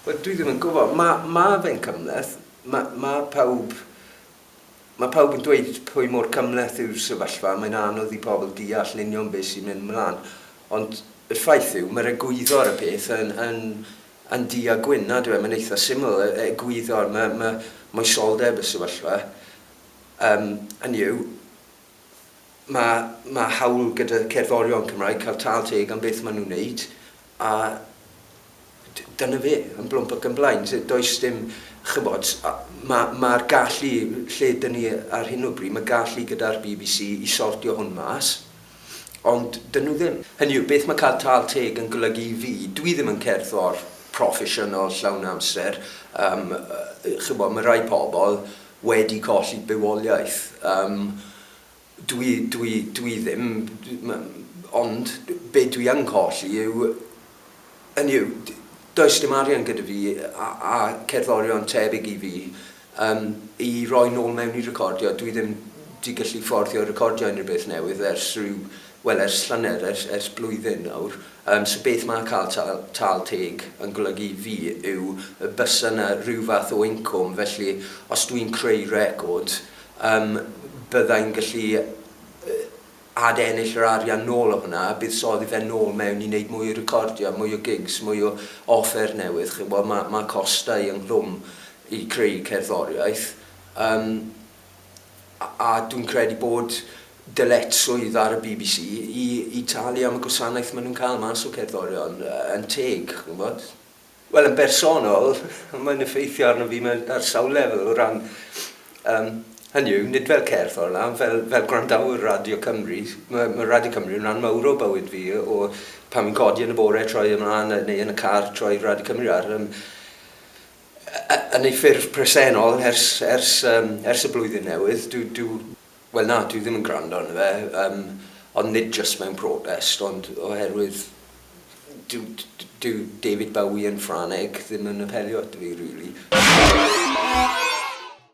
Wel dwi ddim yn gwybod, ma' ma' fe'n cymhleth, ma' ma' pawb ma' pawb yn dweud pwy mor cymhleth yw'r sefyllfa, mae'n anodd i pobl deall yn union beth sy'n mynd 'mlan, ond y ffaith yw ma'r egwyddor y peth yn yn yn du a gwyn nad yw e, mae'n eitha' syml, e- e- egwyddor ma' ma' moesoldeb y sefyllfa, yym hynny yw, Mae, mae hawl gyda cerddorion Cymraeg cael tâl teg am beth maen nhw'n wneud, a d- dyna fe, yn blwmp ac yn blaen. D- does dim, chibod, a- ma- mae'r gallu, lle ydyn ni ar hyn o bryd, mae gallu gyda'r bbc i sortio hwn mas, ond 'dyn nhw ddim. Hynny yw, beth mae cael tâl teg yn golygu i fi, dw i ddim yn cerddor proffesiynol llawn amser, yym, yy, chibod, mae rhai pobl, wedi colli bywoliaeth. Yym, dwi, dwi, dwi ddim, ond be dwi yn colli yw, hynny yw, does dim arian gyda fi a, a cerddorion tebyg i fi yym, i roi nôl mewn i recordio, dwi ddim 'di gallu fforddio recordio unrhyw beth newydd ers rhyw Wel, ers llynedd, ers, ers blwyddyn nawr. Yym, so beth ma' cael tâl, tâl teg yn golygu i fi yw y bysa 'na ryw fath o incwm, felly os dwi'n creu record, yym, bydda i'n gallu ad-ennill yr arian nôl o hwnna, a buddsoddi fe nôl mewn i wneud mwy o recordiau, mwy o gigs, mwy o offer newydd, chi'n gwybod, ma', ma' costau ynghlwm i creu cerddoriaeth. Yym. a dwi'n credu bod dyletswydd ar y bbc i, i talu am y gwasanaeth maen nhw'n cael mas o cerddorion yn teg, chi'n gwybod? Wel, yn bersonol, mae'n effeithio arno fi mewn ar sawl lefel o ran, um, hynny yw, nid fel cerddor na, fel, fel gwrandawyr Radio Cymru. Mae, mae Radio Cymru yn rhan mawr o bywyd fi, o pan fi'n codi yn y bore, troi ymlaen, neu yn y car, troi Radio Cymru ar. Um, yn ei ffurf presennol ers, ers, yym, ers y Blwyddyn Newydd. Dyw, dyw, wel na, dyw ddim yn gwrando arno fe, yym, ond nid jyst mewn protest, ond oherwydd dyw, dyw David Bowie yn Ffrangeg ddim yn apelio ato fi, rili.